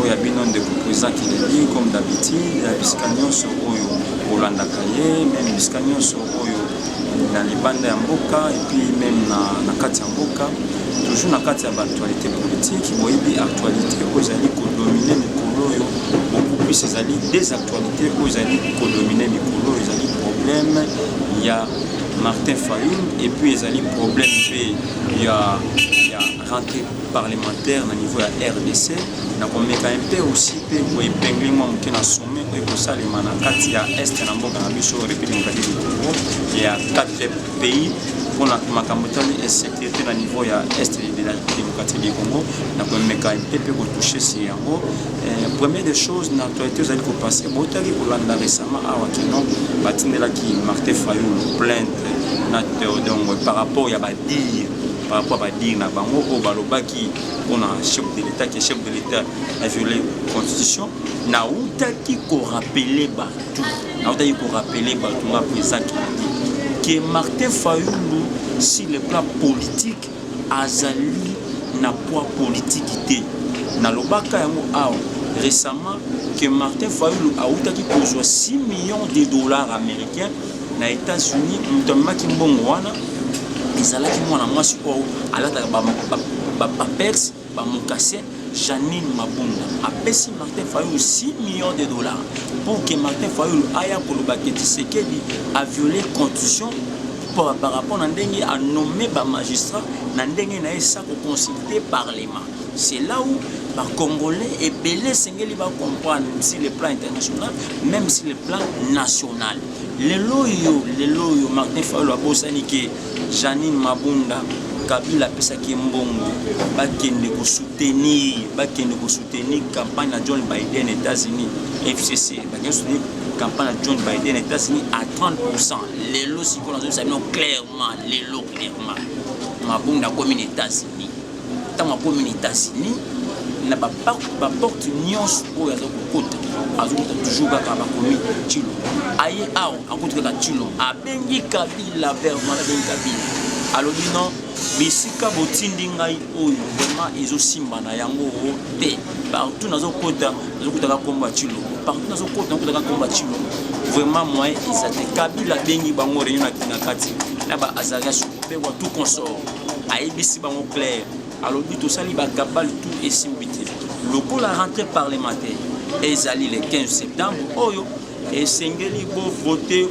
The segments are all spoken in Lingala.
oyo ya bino ndeko président kilebi comme d'habitude ya bisika nyonso oyo bolandaka ye meme bisika nyonso oyo na libanda ya mboka epuis meme na, na kati ya mboka toujours na kati ya baactualité politique boyebi actualité oyo ezali kodomine mikolo oyo beaucoup plus ezali des actualités oyo ezali kodomine mikolo oyo ezali problème ya martin fayul epuis ezali problème mpe ya, ya rentrée parlementaire na niveau ya rdc na komeka mpe aussi mpe koepingle mwa moke na sommet oyo ekosalema na kati ya est na mboka na biso république démocratique du congo ya 4 pays mpona makambo etali insécurité na niveau ya est de la démocratique du congo na komeka mpe mpe kotouche si yango eh, premier des choses na actualité ozali kopase botaki kolanda récemment awa kino batindelaki martin fayulu plainte na teodongo par rapport ya badire par rapport à badire na bango oyo balobaki mpona chef de l'état ke chef de l'état aviole constitution nautaki korapele bato nautaki korapele bato nga président kennedy ke martin fayulu sur le plan politique azali na poids politiki te nalobaka yango awa récemment que Martin Fayulu a outaki kozwa 6 millions de dollars américains na Etats-Unis moto amemaki mbongo wana ezalaki mwana mwasi oyo alataka bapapers bamokase Janine Mabunda apesi Martin Fayulu 6 millions de dollars pour que Martin Fayulu aya koloba que Tshisekedi a violé constitution par rapport na ndenge a nommé ba magistrats na ndenge na ye sa ko consulter parlement C'est là où ba Congolais ebele esengeli ba comprendre si le plan international, même si le plan national. Lelo yo, lelo yo Martin Fayulu abosani ke Janine Mabunda kabila apesaki mbongo bakende kosoutenir bakende kosoutenir campagne ya john biden états-unis fcc bakende soutenir campagne ya john biden états-unis à 30 lelo sikoyo nazobisa bino clairement lelo clairement mabunda akomi na états-unis ntango akomi na Etats-Unis na baporte nyonso oyo aza kokota azokota toujours kaka bakomi tilo aye awa akuti kaka tilo abengi kabila vermala bengi kabila alobi non bisika botindi ngai oyo vraiment ezosimba na yango te partout nazokota nazokotaka nkombo ya tilo partout nazokota nakotaka nkombo ya tilo vraiment moyen eza te kabila abengi bango reunion na kati na ba azaria Mpe Watu Consort ayebisi bango clair, alobi tosali ba cabale tout esimbi te. Lokola rentrée parlementaire ezali le 15 septembre oyo esengeli bovote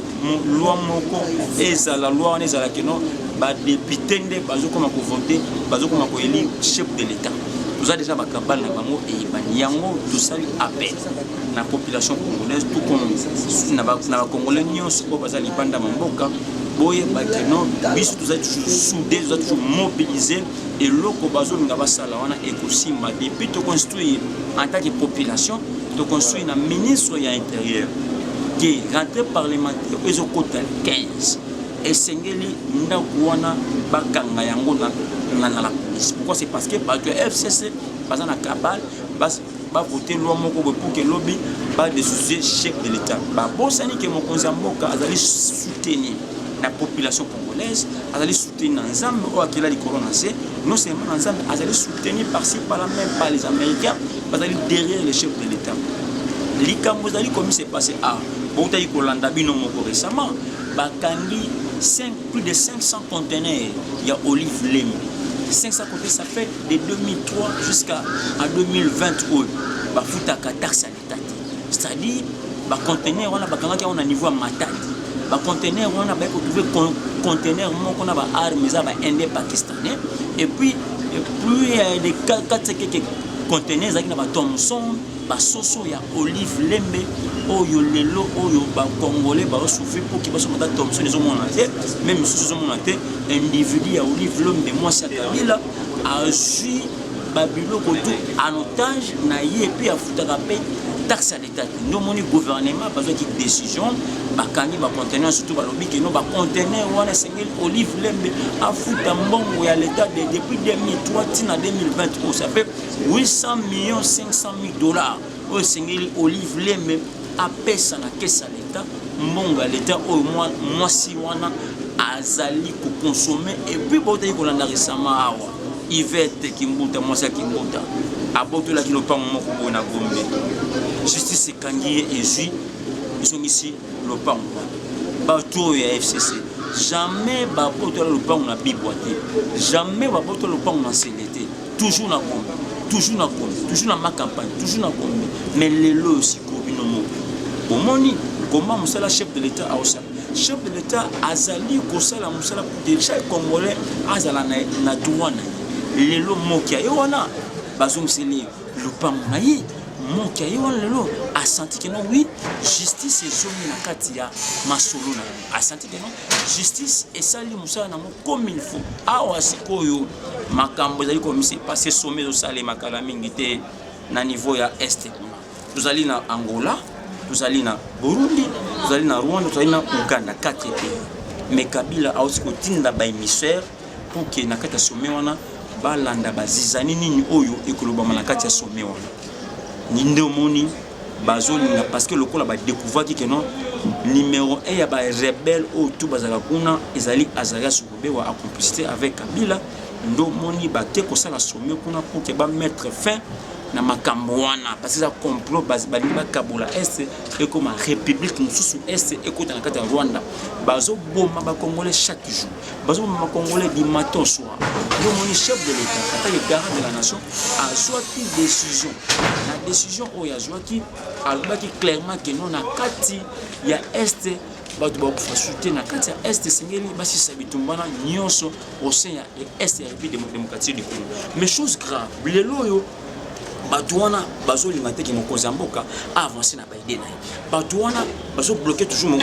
loi moko ezala loi wana ezala keno badepute nde bazokoma kovote bazokoma koeli chef de l'etat toza deja bakabale na bango eyebani yango tosali appel na population congolaise tout comme na bacongolais nyonso oyo baza libanda ma mboka boyeba ke no biso tozali toujours soude tozali toujours mobilise eloko bazolinga basala wana ekosimba depuis toconstruire en tant que population toconstruire na ministre ya intérieur ke rentrée parlementaire oyo ezokota 15 esengeli ndako wana bakanga yango na la police pourquoi c'est parce que bato ya fcc baza na kabale ba voter loi moko boye pour que lobi ba desoucier chef de l'État. Ba bosani que mokonzi ya mboka azali soutenu na population congolaise, azali soutenu na Nzambe oyo akela likolo na se, non seulement na Nzambe, azali soutenu par-ci par-là même par les Américains, bazali derrière le chef de l'État. Likambo ezali komi se passer à boutaki kolanda bino moko récemment bakangi 5, plus de 500 conteneurs ya olive lemi 500 conteneurs ça fait de 2003 jusqu'à en 2020 oyo bafutaka taxe ya leta te c'est-à-dire bacontenaire wana bakangaki yango na niveau ya matadi bacontenaire wana baye kotrouve contenaire moko na baarme eza bainde pakistanais et puis plus euh, de 4 contenaire ezalaki na bathomson Ba soso ya olive lembe oyo lelo oyo ba congolais ba souffrir pour que baso mata Thompson ezo mona te même misusu ezo mona te individu ya olive lembe mwasi ya Kabila azui ba biloko tout en otage na ye pe afutaka pe taxe ya leta te nde omoni gouvernement bazwaki décision bakangi bacontener surtout balobi keno bacontener wana esengeli olive lembe afuta mbongo ya leta de depuis 2003 ntina 2020 oyo ça fait 800 millions 500 mille dollars oyo esengeli olive lembe apesa na kesi ya leta mbongo ya leta oyo mwasi wana azali kokonsome epuis bautaki kolanda resama awa ivete kimbuta mwasi ya kimbuta abotolaki lopango moko boye na gombe justice ekangi ye ezwi ezongisi lopango bato oyo ya fcc jamais babotola lopango na bibwa te jamais babotola lopango na nsele te toujours na gombe toujours na gombe toujours na ma campagne toujours na gombe mais lelo oyo sikoyo bino moko bomoni koma mosala chef de l'état aosala chef de l'état azali kosala mosala de chaque congolais azala na droit na ye lelo mokia ye wana bazongiseli ye lopango na ye mokia ye wana lelo asanti keno wi justice ezongi na kati ya masolo na ye asanti keno justice esali mosala nango comme il faut awa sikoyo makambo ezali komisi parce some ezosalema kala mingi te na niveau ya este kuna tozali na angola tozali na burundi tozali na rwanda tozali na uganda 4 pays mais kabila auti kotinda baémissaire pour ke na kati ya some wana balanda bazizani nini oyo ekolobama na kati ya some wana ninde omoni bazolinga parce que lokola ba découvraki que non numéro 1 ya ba rebelle oyo tout bazala kuna ezali Azarias Rubewa a complicité avec Kabila ndo moni bake kosala sommet kuna pour que ba mettre fin na makambo wana parce eza complot balingi bakabola est ekoma république mosusu est ekota na kati ya rwanda bazoboma bacongolais chaque jour bazoboma congolais du matin au soir yo omoni chef de l'état ata le garant de la nation azwaki décision na décision oyo azwaki alobaki clairement ke no na kati ya est bato bakufa su te na kati ya est esengeli basisa bitumbana nyonso au sein ya est ya république démocratique du congo mais chose grave lelo oyo bato wana bazolinga te ke mokonzi ya mboka aavance na baide na ye bato wana bazobloke toujours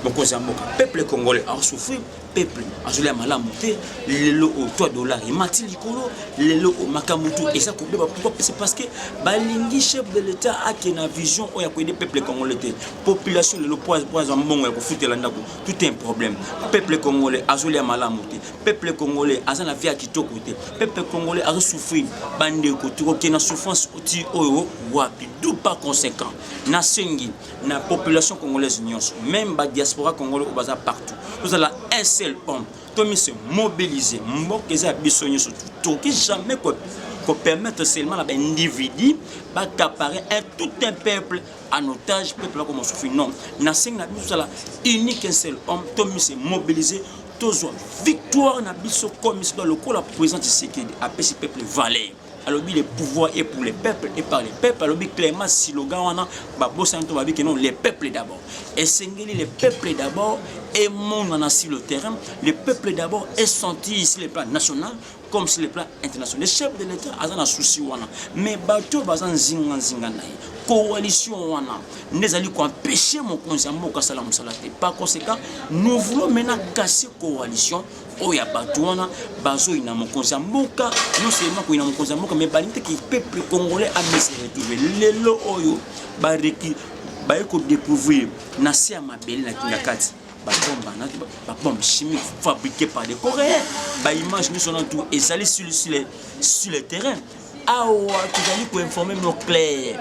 mokonzi ya mboka peuple congolais asouffrir peuple azolia malamu te lelo oyo 3 dollar emati likolo lelo oyo makambo tu eza kobeba pourquoi c'est parce que balingi chef de l'état ake na vision oyo ya koyede peuple congolais te population lelo po aza mbongo ya kofutela ndako tout un problème peuple congolais azolia malamu te peuple congolais aza na vie ya kitoko te peuple congolais azosouffrir bandeko tokokende na souffrance ti oyo wapi du pas conséquent nasengi na population congolaise nyonso meme badiaspora congolais oyo baza partout tozala un seul homme tomi se mobiliser mboka eza ya biso nyonso tokoki jamais kopermettre seulement na baindividu bacapare un tout un peuple en otage peuple ako mosusu non nasengi na biso tozala unique un seul homme tomi se mobiliser tozwa victoire na biso comme sida lokola président tshisekedi apesi peuple valeur alobi le pouvoir est pour les peuples et par les peuples alobi clairement siloga wana babosani to babi ke non les peuples d'abord esengeli les peuples d'abord emonana sur le terrain les peuples d'abord essentir sur le plan national comme sur le plan international le chef de l'état aza na souci wana mais bato baza nzinga nzinga na ye coalition wana nde ezali koempeshe mokonzi ya mboka asala mosala te par conséquent nous voulons maintenant casser coalition oyo ya bato wana bazoyina mokonzi ya mboka non seulement koyina mokonzi ya mboka mais balingi te ki peuple congolais amese retrouve lelo oyo bareki baye kodecouvrir na se ya mabele na kingakati babombe chimique fabriqué par des coréens baimage nyonso na tout ezali sur le terrain awa tozali koinforme bino claire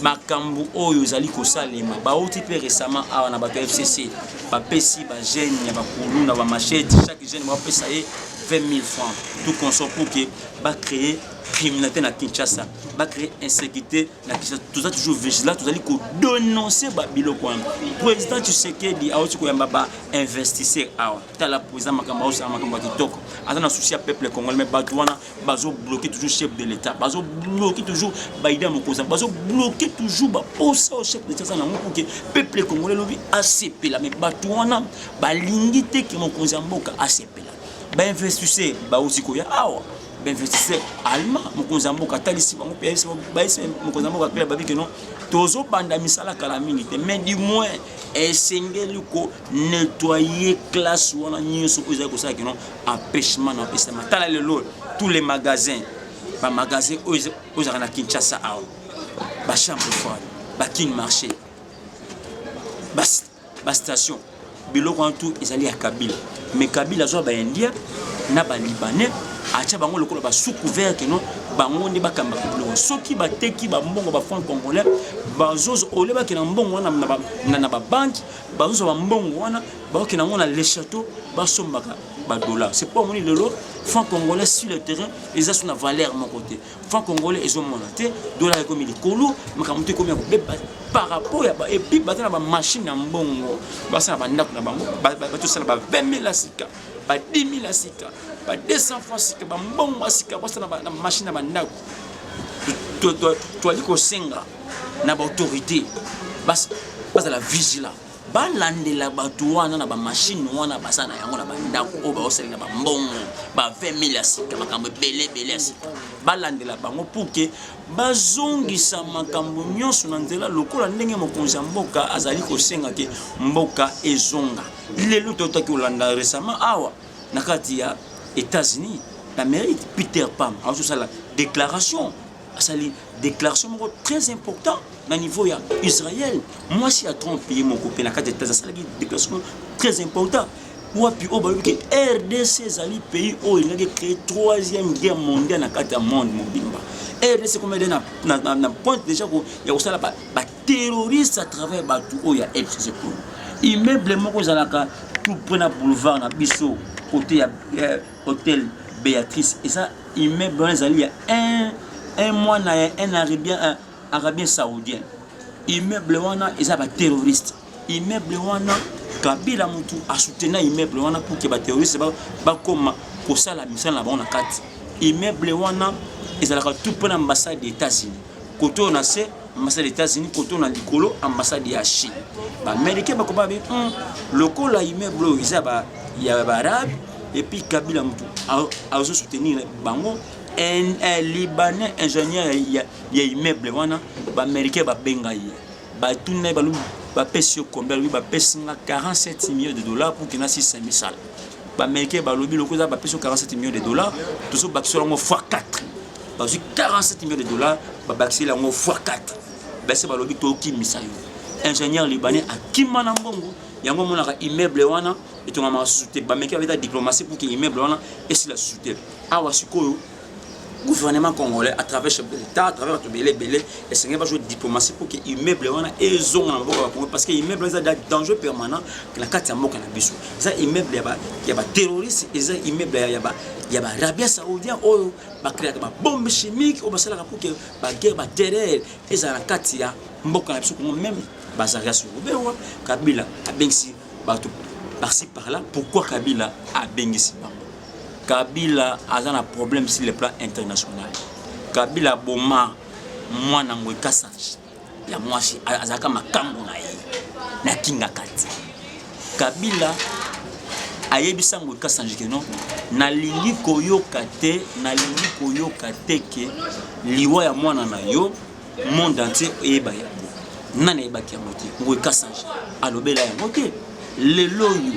makambo oyo ezali kosalema bauti mpe récemment awa na bato ya fcc bapesi bajeune ya bakulu na bamachete chaque jeune bapesa ye 20 000 francs tout consort pour que bacree criminalité na kinshasa bacree insécurité na kinshasa toza toujours vigilant tozali kodononce babiloko wana président tshisekedi awuti koyamba bainvestisseur awa tala président makambo aosala makambo ya kitoko aza na souci ya peuple congolais me bato wana bazo bloquer toujours chef de l'état bazo bloquer toujours baide ya mokonzi bazo bloquer toujours baposa oyo chef de l'état aza nango pour ke peuple congolais lobi asepela mais bato wana balingi te ke mokonzi ya mboka asepela bainvestisseur bauti koya awa bainvestisseur allemand mokonzi ya mboka atalisi bango mpe bayesi mokonzi ya mboka akela babi ke non tozobanda misala kala mingi te mais du moins esengeli ko nettoyer classe wana nyonso oyo ezali kosala kino empêchement na opesama tala lelo tous les magasins bamagasin oyo ozalaka na kinshasa awa bachambre froide bakin marché bastation biloko wana tout ezali ya kabila mais kabila azwa baindia na balibanais atya bango lokola basoucouvert keno bango nde bakambaka biloko soki bateki bambongo bafranc congolais bazozo ole bakenda mbongo wana na babanki bazozwa bambongo wana baoki nango na le château basombaka badola c'est mpo amoni lelo franc congolais sur le terrain eza so na valeur moko te franc congolais ezomona te dola ekomi likolo makambo te ekomi ya kobeba par rapport ya epuis baza na bamashine ya mbongo basala bandako na bango batosala ba 20 mille ya sika ba 10 mille ya sika ba 200 fois sika bambongo ya sika basala na mashine ya bandako toali kosenga na baautorité bazala vigilant balandela bato wana na bamashine wana baza na yango na bandako oyo baosalela bambongo ba 20000 ya sika makambo ebele ebele ya sika balandela bango puke bazongisa makambo nyonso na nzela lokola ndenge mokonzi ya mboka azali kosenga te mboka ezonga lelo totaki kolanda resama awa na kati ya états-unis d'amérique peter pam azosala déclaration asali déclaration moko très important na niveau ya israël mwasi ya trump ye moko mpe na kati ya etats asalaki déclaration très important wapi oyo balobi ke rdc ezali pays oyo elingaki créer troisième guerre mondiale na kati ya monde mobimba rdc koma ede na, na, na, na pointe déjà ko, ya kosala baterroriste ba à travers bato oyo ya fcc immeuble moko ezalaka tout près na boulevard na biso kote ya eh, Hotel Beatrice eza immeuble wana ezali ya un un mwana ya un arabien un arabien saoudien immeuble wana eza ba terroriste immeuble wana kabila mutu asutena immeuble wana pour que ba terroriste bakoma ba kosala misala na bango na kati immeuble wana ezalaka tout mpo na ambassade ya états-unis kote oyo na se ambassade ya états-unis kote oyo na likolo ambassade ya chine baamerikain bakoma be hmm, lokola immeuble oyo eza ya baarabe epuis kabila motu azo soutenir bango un, un libanais ingénieur ya, ya immeuble wana baamericain babenga ye batuni na ye balobi bapesi yo combien alobi bapesi nga 47 millions de dollars pour kena 6 misala baamericain balobi lokola eza bapesi yo 47 millions de dollars tozobakisa yango fois 4 bazwi 47 millions de dollars babakiseli yango fois 4 basi balobi tokimisa yo ingénieur libanais akima na mbongo yango omonaka immeuble wana etongamaka susu te bameki babeta diplomatie pour ke immeuble wana esila susu te awa sikoyo gouvernement congolais à travers chef de l'état à travers bato ebele ebele esengeli bazwa diplomatie pour ke immeuble wana ezonga na mboka bakongo parce que immeuble eza danger permanent na kati ya mboka na biso eza immeuble ya baterroriste eza immeuble ya barabia saoudien oyo bakreaka babombe chimique oyo basalaka mpo ke baguerre baterreur ezala na kati ya mboka na biso kongo meme bazaria sukubewa kabila abengisi bato parci par là pourquoi kabila abengisi bango kabila aza na problème sur le plan international kabila aboma mwana yango ekasage ya mwasi azalaka makambo na ye na kingakati kabila ayebisa ngo kasanji ke no nalingi koyoka te nalingi koyoka te ke liwa ya mwana na yo monde entier eyeba yango nani ayebaki yango te ngoyi kasanji alobela yango te lelo oyo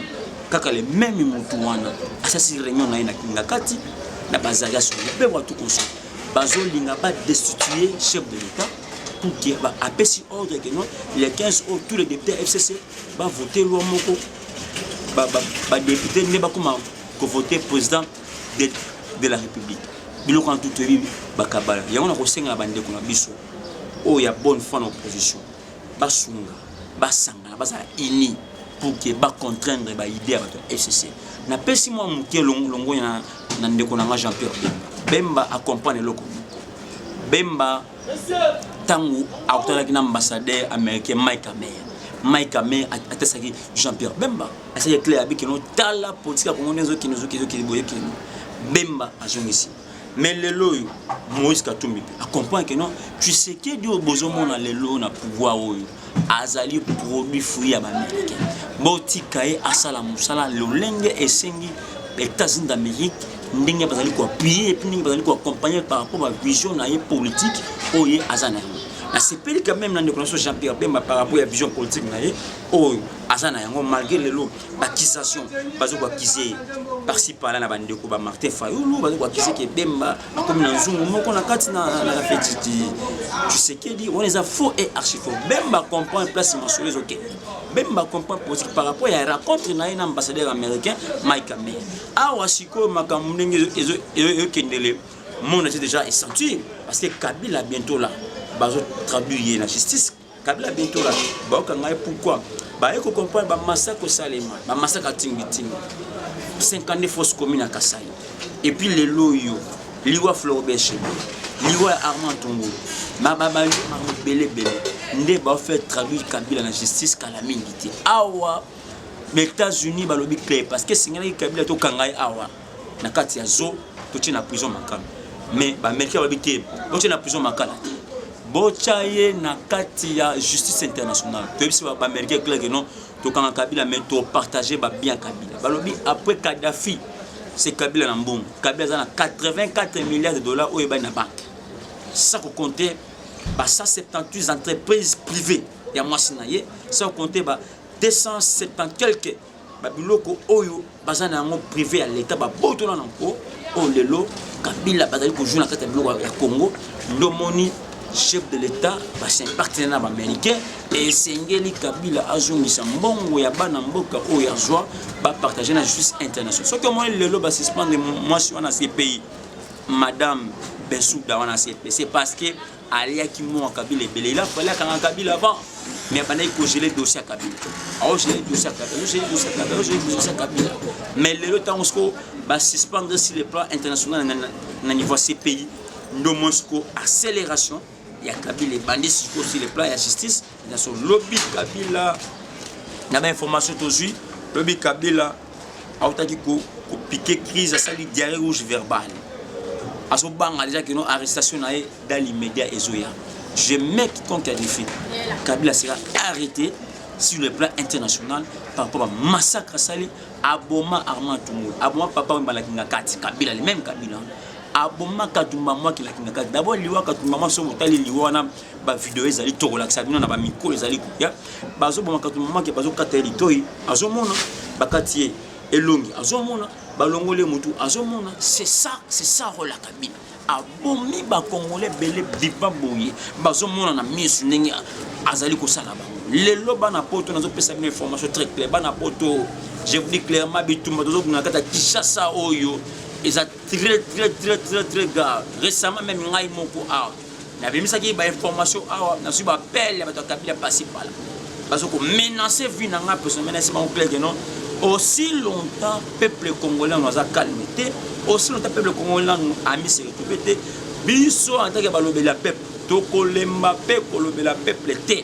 kaka le meme motu wana asasi reunion na ye na kingakati na bazali asoli mpe watu kosala bazolinga ba destituer chef de l'État pour dire ba apesi ordre que non les 15 oyo tous les députés FCC ba voter loi moko ba ba, ba député nde bakoma ko voter président de, de la République biloko na tout toyebi bakabala yango na kosenga na bandeko na biso oyo ya bonne foi na opposition basunga basangana bazala unis pour que ba contraindre ba idée ya bato ya fcc napesi mwa moke longonya na, na ndeko na nga jean pierre bemba bemba acomprendre eloko moko bemba ntango akutanaki na ambassadeur américain mike amer mike amer atesaki jean pierre bemba asaki claire abikeno tala politique ya kongo nde ezokende ezokende ezokende boyekeno bemba azongisi mais lelo oyo moïse katumbi mpe acomprendre que non tshisekedi oyo bozomona lelo oyo na pouvoir oyo azali produit fruit ya baaméricain botika ye asala mosala lolenge esengi états-unis d'amérique ndenge bazali koappuye epuis ndenge bazali koaccompagne par rapport bavision na ye politique oyo ye aza na yango nasepeli quand même na ndeko na biso jean pierre bemba par rapport ya vision politique na ye oyo aza na yango malgré lelo accusation bazo ko accuser par ci par là na bande ko ba Martin Fayulu bazo ko accuser que Bemba comme na nzungu moko na kati na na feti ti tu sais que dit on les a faux et archi faux Bemba comprend place ma sur les OK Bemba comprend politique par rapport à la rencontre na un ambassadeur américain Mike Amé awa siko makambo ndenge ezo ezo kendele monde est déjà senti parce que Kabila bientôt là bazo traduire la justice Kabila Bintola bayoka ngai pourquoi baye ko comprendre ba massacre osalema ba massacre atingi tingi 52 fausses communes à Kassai et puis les loyo liwa Floribert Chebeya liwa ya Armand Tungulu mababayo mabelebele nde baofaire traduire Kabila na justice kala mingi te awa ba États-Unis balobi clair parce que esengelaki Kabila tokanga ye awa na kati ya zo totie na prison makala mais baamerikain babi te botie na prison makala te botya ye na kati ya justice internationale toyebisi baamerikain clake non tokanga kabila mais topartage babien ya kabila balobi après kadafi se kabila na mbongo kabila aza na 84 milliards de dollars oyo ebani na banke sans kocompte ba 178 entreprises privées ya mwasi na ye sans kocompte ba 270 quelque babiloko oyo baza na yango privé ya leta babotona na nko oyo lelo kabila bazali kozwa na kati ya biloko ya congo ndomoni chef de l'État basimpacte na baaméricain esengeli kabila azongisa mbongo ya bana mboka oyo azwa bapartage na justice international soki omoni lelo basuspendre mwasi wana cpi madame bensuda wana cp c'est parce que aliaki mwa kabila ebele il a fallu akanga kabila avant mais abandaki kogele dosi ya kabila aogele dosi ya kabila aogele dosi ya kabila aogele dosi ya kabila mais lelo ntango soko basuspendre sur le plan international na niveau ya cpi ndo mwa soko accélération ya kabila ebandi siko sur le plan ya justice Naso lobi Kabila na ba information tozwi lobi Kabila autaki ko ko piquer crise asali diarrhée rouge verbale azobanga deja kino arrestation na ye dans l'immédiat ezoya je mets quiconque a défait kabila sera arrêté sur le plan international par rapport à massacre asali aboma armand tumul aboma papa oyo mbalaki nga kati kabila le même kabila aboma katumba mwaki laki nga kati d'abord liwa katumba mwa soki otali liwa wana bavideo ezali tokolakisa bino na bamikro ezali koya bazoboma kato mamake bazokata ye litoi azomona bakati ye elongi azomona balongoli ye motu azomona c'est ça c'est ça rola kabila abomi bakongole ebele bipa boye bazomona na misu ndenge azali kosala bango lelo bana poto nazopesa bino information très claire bana poto je vous dis clairement bitumba tozobuna kata kinshasa oyo eza très très très très très grave récemment même ngai moko awa nabimisaki ba information awa nazwi ba appel ya bato ya kabila pasi pala bazo ko menacer vie na ngai personne menasi bango clair que non aussi longtemps peuple congolais nanu aza calme te aussi longtemps peuple congolais nanu ami se retrouve te biso en tant que balobeli ya peuple tokolemba mpe kolobela peuple te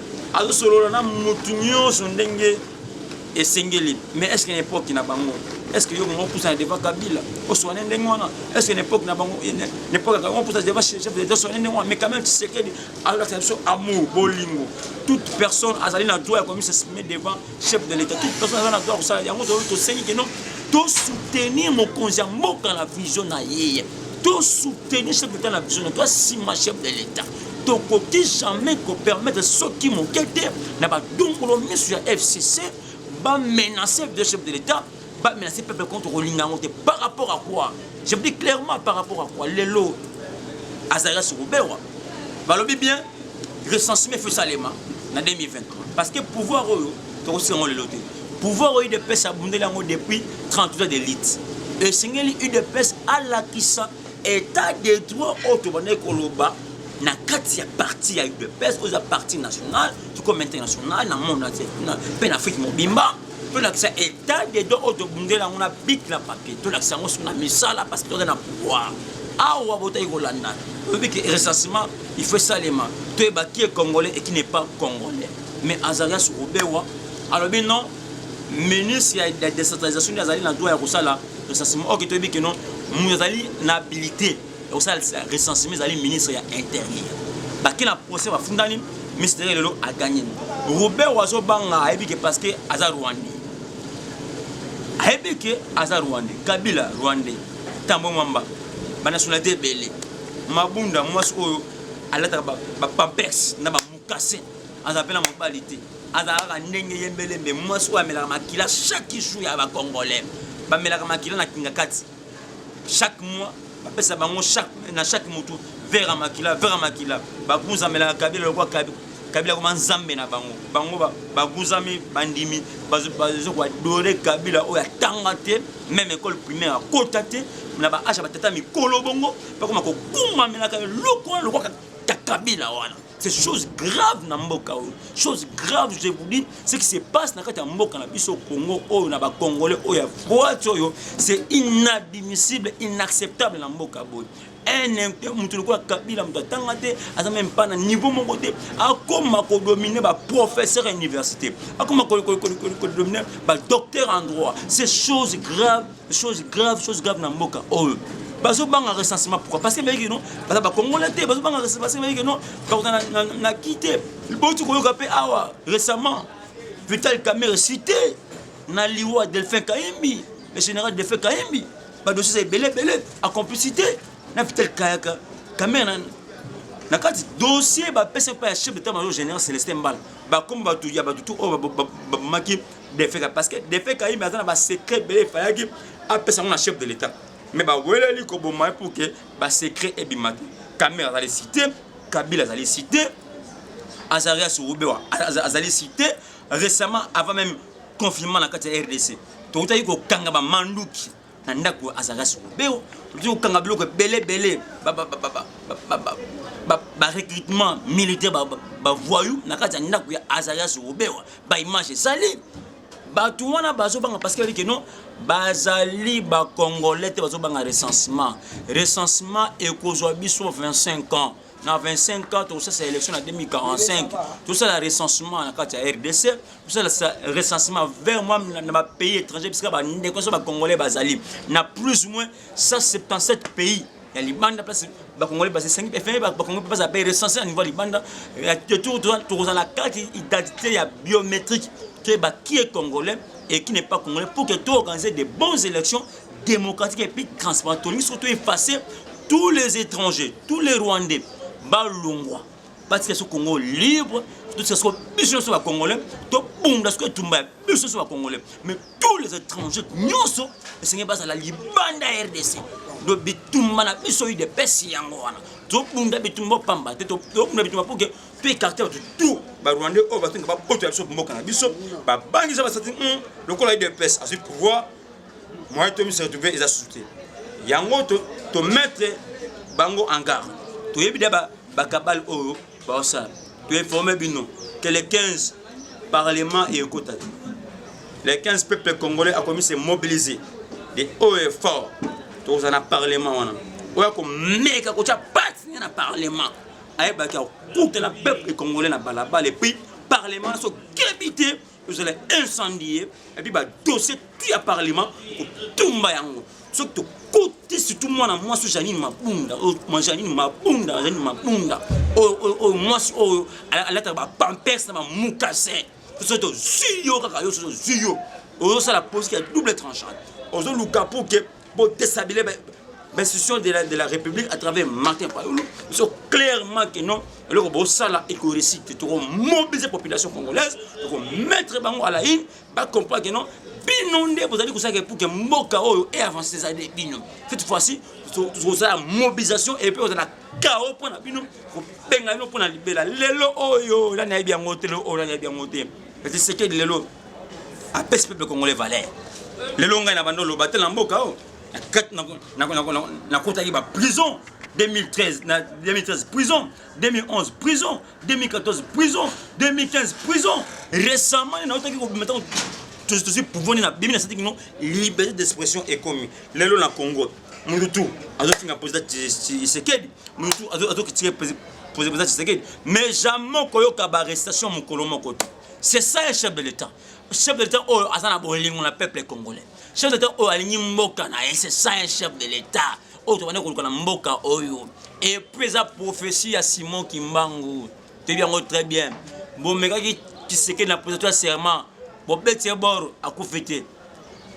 azosolola na motu nyonso ndenge esengeli mais est ce que na epoque na bango est ce que yo kongo opusana devant kabila oswane ndenge wana est ce que na epoque na bango eh, na epoque ya kabila opusana devant chef d'état oswane ndenge wana mais quand même tshisekedi alakisa biso amour bolingo toute personne azali na droit ya komisa sime devant chef de l'état toute personne azali na droit ya kosala yango tosengi keno tosoutenir mokonzi ya mboka na vision na ye tosoutenir chef d'état na vision na to asima chef de l'état tokoki jamais ko permettre soki moke te na badungolo miso ya fcc ba menacer de chef de l'état ba menacer peuple contre kolinga yango te par rapport à quoi je dis clairement par rapport à quoi lelo azalaki ya sikobewa balobi bien recensement efo esalema na 2023 parce que pouvoir oyo tokosika yango lelo te pouvoir oyo udps abundeli yango depuis 38 ans de lite esengeli udps alakisa etat de droit oyo tobandaki koloba na kati ya parti ya udps oyo eza parti national tokoma international na monde mpe na afrique mobimba tolakisa etat de droit oyo tobundela yango na bik na papier tolakisa yango soki na misala parce que toza na pouvoir awa botaki kolanda oyebi ke recensement il faut esalema toyeba ki e congolais et qui n'est pas congolais mais azarias robewa alobi non ministre ya decentralisation nde azali na droit ya kosala recensement oke toyebi ke non moto azali na habilité ya kosala recensement ezali ministre ya interieur bake na procès bafundani ministre lelo aganye robert azobanga ayebi ke parce que aza rwandais ayebi ke aza rwandais kabila rwandais tambo mwamba banationalité ebele mabunda mwasi oyo alataka bapampers na bamukase aza mpe na mobali te azalaka ndenge ye mbelembe mwasi oyo amelaka makila chaque jour ya bacongolais bamelaka makila na kingakati chaque mois bapesa bango na chaque motu vere ya makila vere ya makila bakunzamelaka kabila lokwa kabila koma nzambe na bango bango baguzami bandimi bazo koadore kabila oyo atanga te meme ekole primaire akota te na baasha batata mikolo bongo bakoma kokumamelaka eloko wana lokwaka kabila wana C'est chose grave na mboka oyo. Chose grave, je vous dis, ce qui se passe na kati ya mboka na biso Congo oyo na ba Congolais oyo ya boîte oyo, c'est inadmissible, inacceptable na mboka boye. Un mutu lokola Kabila mutu atanga te, aza même pas na niveau moko te, akoma ko dominer ba professeurs à université, akoma ko dominer ba docteurs en droit. C'est chose grave chose grave chose grave na mboka oyo bazobanga recensement pourquoi parce que bayiki no baza bakongola te bazobanga recensement parce que bayiki no bakota na ki te boti koyoka mpe awa récemment vital camere cité na liwa delphin kaimbi le général delphin kaimbi badossier eza ebele ebele a complicité na vital kayaka camere na kati dossier bapesa mpe ya chef d'état major général célestin mbala bakomi bato ya bato tu oyo babomaki defeka parce que defeka yimbe aza na ba secret ebele efayaki apesa yango na chef de l'état mais baweleli koboma ye pour ke ba secret ebima te kamere azali cité kabila azali cité azarias rubewa azali cité récemment avant même confinement na kati ya rdc tokutaki kokanga bamanduki na ndako azalaka sikobeo ozi kokanga biloko ebele ebele barecrutement militaire bavoyou na kati ya ndako ya azaria sikobewa baimage ezali bato wana bazobanga parce que non bazali bacongolais te bazobanga recensement recensement ekozwa biso 25 ans na 25 ans tokosala élection na 2045 tosala recensement na kati ya rdc tosala recensement vers moi na bapays étranger bisika bandeko nyonso bacongolais bazali na plus ou moins 177 pays ya libanda place bakongolais basesengi efenge bakongolais baza pe recensé na niveau ya libanda tour tokozala kati identité ya biométrique toyeba qui est congolais et qui n'est pas congolais pour que toorganiser de bonnes élections démocratique et puis transparent tolingi surtout effacer tous les étrangers tous les rwandais balongwa batika so congo libre totika soko biso nyonso bacongolais tobunda soko etumba ya biso nyonso bacongolais mais tous les étrangers nyonso esengeli bazala libanda ya rdc do bitumba na biso udps yango wana tobunda bitumba pamba te tobunda bitumba mpo ke to écarte bato tout barwandais oyo batonga bapoto ya biso mboka na biso babangisa basati hmm, lokola udps azwi pouvoir moyen to mise retrouve eza susu te yango to, to mettre bango en garde toyebi da bakabale ba oyo baosala toinforme bino que le 15 parlement ekota te le 15 peuple congolais akomi se mobiliser de haut et fort tokozala na parlement wana oyo akomeka kotya pati ne na parlement ayebaki akutana peuple congolais na balabala epuis parlement sokebi te tozala incendie epuis badossier tu ya parlement kotumba yango soki tokuti surtout mwana mwasi janine mabunda janine mabunda janine mabunda oyo mwasi oyo alataka bapampers na bamukase soki tozwi yo kaka yo soki tozwi yo ozosala politique ya double tranchant ozoluka mpo ke Bo déshabiller ba institution de la, de la République à travers Martin Payolo. Ils sont clairement que non. Alors que ça là et que récit, tu auras mobilisé la population congolaise, tu auras mettre bango à la haine, pas comprendre que non. Bino nde bozali kosala pour que mboka oyo et avancer ça des bino. Cette fois-ci, tu auras mobilisation et puis on a chaos pour na bino, pour benga bino pour na libela. Lelo oyo, là na bien ngote, lelo oyo là na bien ngote. Mais Tshisekedi lelo apesi peuple congolais valeur. Lelo ngai na bando loba te na mboka o. nakotaki ba prison 2013 na 2013 prison 2011 prison 2014 prison 2015 prison récemment naotaki kobima ntango tozwi pouvoir nde nabimi nasati kino liberté d'expression ekomi lelo na congo motu tu azofinga président tshisekedi mutu azo critiquer president Tshisekedi mais jamais koyoka ba arrestation mokolo moko te c'est ça un chef de l'état chef de l'état oyo aza na bolingo na peuple congolais chef de l'état oyo alingi mboka na ye c'est ça un chef de l'état oyo tobandi koluka na mboka oyo et puis eza prophétie ya Simon Kimbangu toyebi yango très bien bomekaki Tshisekedi na president ya serment bobeti ye bor akufi te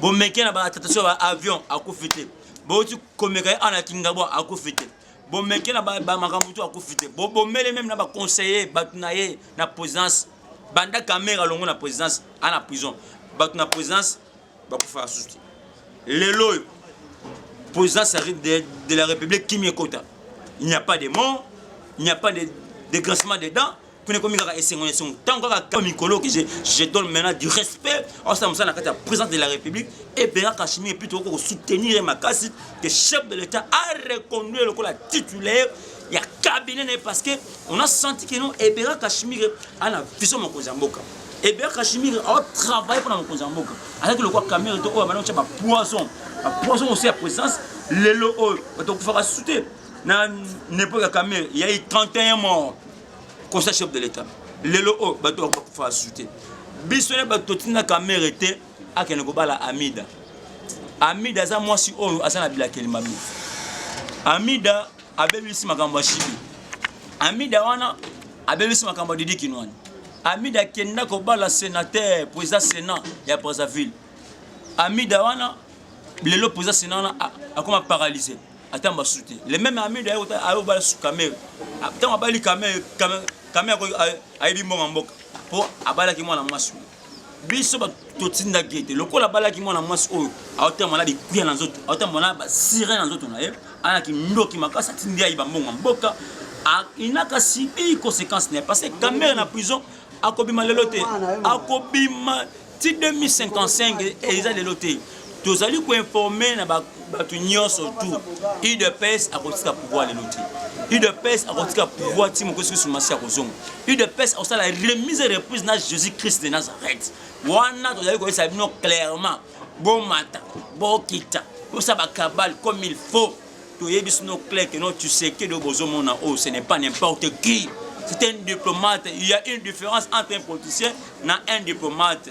bomeki na ba attentation ya ba avion akufi te bouti komeka ye ana kingabwa akufi te bomeke na makambo to akufi te bobomele meme na baconseiller bato na ye na présidence banda kamera longo na présidence ana prison bato na présidence bakufaka susu te lelo oyo présidence de, de la république kimi ekota il n'y a pas de mort il n'y a pas de dégraissement des dents kuna ekomi kaka esengo na esengo ntango kaka kaka mikolo ke je donne maintenant du respect osala mosala na kati ya présidence de la république et bernard kashimi epuis tokoki kosoutenir ye makasi que chef de l'état a reconduire lokola titulaire ya cabinet na ye parce que on a senti que non ebera kashimire ana vision mokonzi ya mboka ebera kashimire aotravaille mpona mokonzi ya mboka azalaki lokola camere to oyo abanda kotya bapoison bapoison osi ya présence lelo oyo bato okufaka sute na nepoke ya camere yai 31 mort kosa chef de l'etat lelo oyo bato bakufa asusu te biso nde bato totindaka mere te akende kobala amida amida aza mwasi oyo aza na bilakeli mabe amida abebisi makambo ya shibi amida wana abebisi makambo ya didi kinwani amida akenda kobala senateur président sénat ya brazzaville amida wana lelo président sénat wana akoma paralyse ata mbasusu te le meme amido ayo bala susu kamere ntango ah, abali kamere kamere ayebi mbongo mboka mpo abalaki mwana mwasi oyo biso bato totindaki ete lokola abalaki mwana mwasi oyo aotama na bikuya na nzoto aotama na basire na nzoto na ye ayaki ndoki makasi atindi ayi bambongo mboka inaka sibi conséquence na ye parce que kamere na prison akobima lelo te akobima ti 2055 eza lelo te tozali koinforme na bato nyonso tu udps akotika pouvoir lelo te udps akotika pouvoir ti mokosi kusu masi akozonga udps akosala remise reprise na jésus christ de nazareth wana tozali koyesa bino clairement bomata bokita bosa bakabale comme il faut toyebi sino clair que non tshisekedi oyo bozomona oyo oh, ce n'est pas n'importe qui c'est un diplomate il y a une différence entre un politicien na un diplomate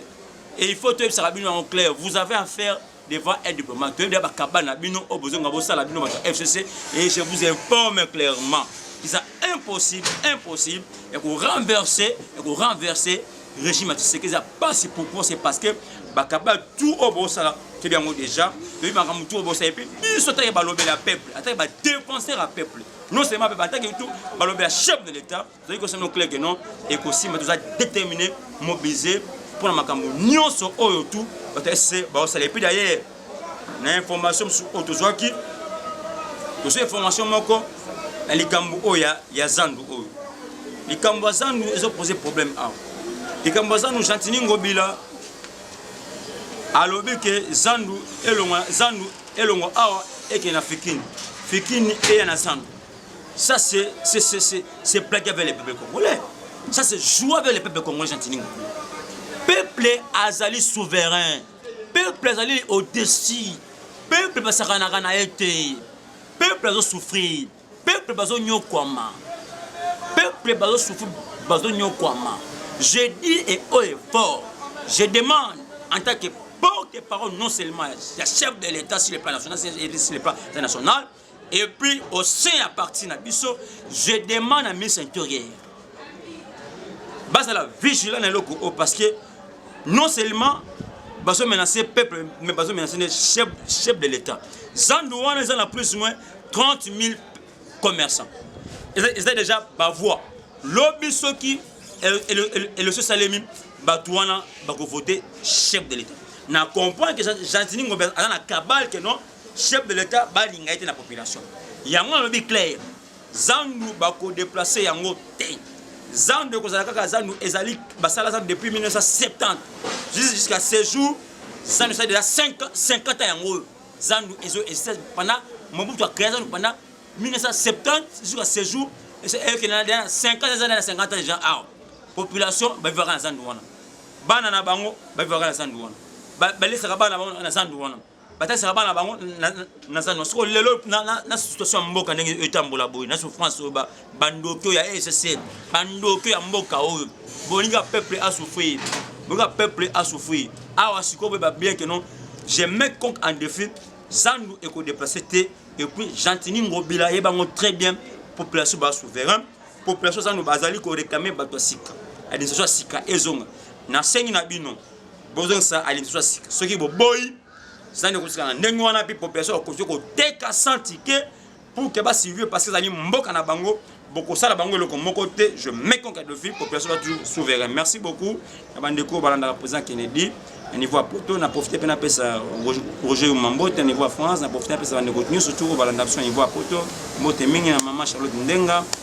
et il faut toyebisaka bino yango clair vous avez affaire devant un diplomate toyebi ya bakaba na bino oyo oh, bozonga bosala bino bato ya fcc et je vous informe clairement eza impossible impossible ya korenverse ya korenverse Régime ya Tshisekedi eza pasi pourquoi c'est parce que bakaba tout oyo bosala toyebi yango déjà toyebi makambo tout oyo bosala mpe biso atake balobela ya peuple atake badefenseur ya peuple non seulement mpe atake tout balobela chef de l'état tozali kosala no clair que non ekosimba toza déterminé mobiliser mpo na makambo nyonso oyo tout batase baosala epuis d'ailleurs na information mosusu oyo tozwaki tozwa information moko na likambo oyo ya, ya zandu oyo likambo ya zandu ezopose problème awa likambo ya zandu gentini ngobila alobi ke zandu elongwa zandu elongwa awa ekende na fikini fikini eya na zandu ça c'est c'est c'est c'est plaqué avec les peuples congolais ça c'est jouer avec les peuples congolais gentini ngobila peuple azali souverain peuple azali au-dessus peuple basakanaka na ye te peuple azosouffrir peuple bazonyokwama peuple bazosouffrir bazonyokwama je dis et haut et fort je demande en tant que porte-parole non seulement ya chef de l'état sur le plan national sur le plan international Et puis au sein ya parti na biso, je demande à ministre intérieur bazala vigilant na eloko oyo parce que non seulement bazo menacer peuple mais bazo menacer ne chef, chef de l'état zandu wana eza na plus ou moins 30 000 commerçants eza déjà bavoie lobi soki election esalemi bato wana bakovote chef de l'état na comprendre que gentini ngombe aza na kabale ke non chef de l'etat balinga ye te na population yango nalobi claire zandu bakodeplace yango te zandu ekozala kaka zandu ezali basala zandu depuis 1970 jusqu'à ce jour zandu esali deja 50 ans yango oyo zandu ezo existe pendant mobutu akrea zandu pendant 1970 jusqu'à ce jour ekenda deja 50 eza na 50 ans deja awa population bavivaka na zandu wana bana na bango bavivaka na zandu wana balesaka bana na bango na zandu wana batalisaka bana bango naza no soko lelo na situation ya mboka ndenge etambola boye na souffrance oyo bandoki oyo ya ssl bandoki ya mboka oyo bolinga peuple asouffrir bolinga peuple asouffrir awa sikoyo boyeba bien ke non je mets conque en défi zandu ekodeplace te epuis gentini ngobila ye bango très bien population ba souverain population zandu bazali koréclame bato ya sika administration ya sika ezonga nasengi na bino bozongisa ali lisusu ya sika soki boboyi zani ekosika na ndenge wana mpe population bakoki koteka sans ticket pour que basurvive parce que ezali mboka na bango bokosala bango eloko moko te je meconque dofi population ba toujours souverain merci beaucoup na bandeko balandaka président kennedy na niveau ya poto na profite mpe napesa roger yuma mbote na niveau ya france na profite napesa bandeko nyonso turo balanda biso na niveau ya poto mbote mingi na mama charlotte ndenga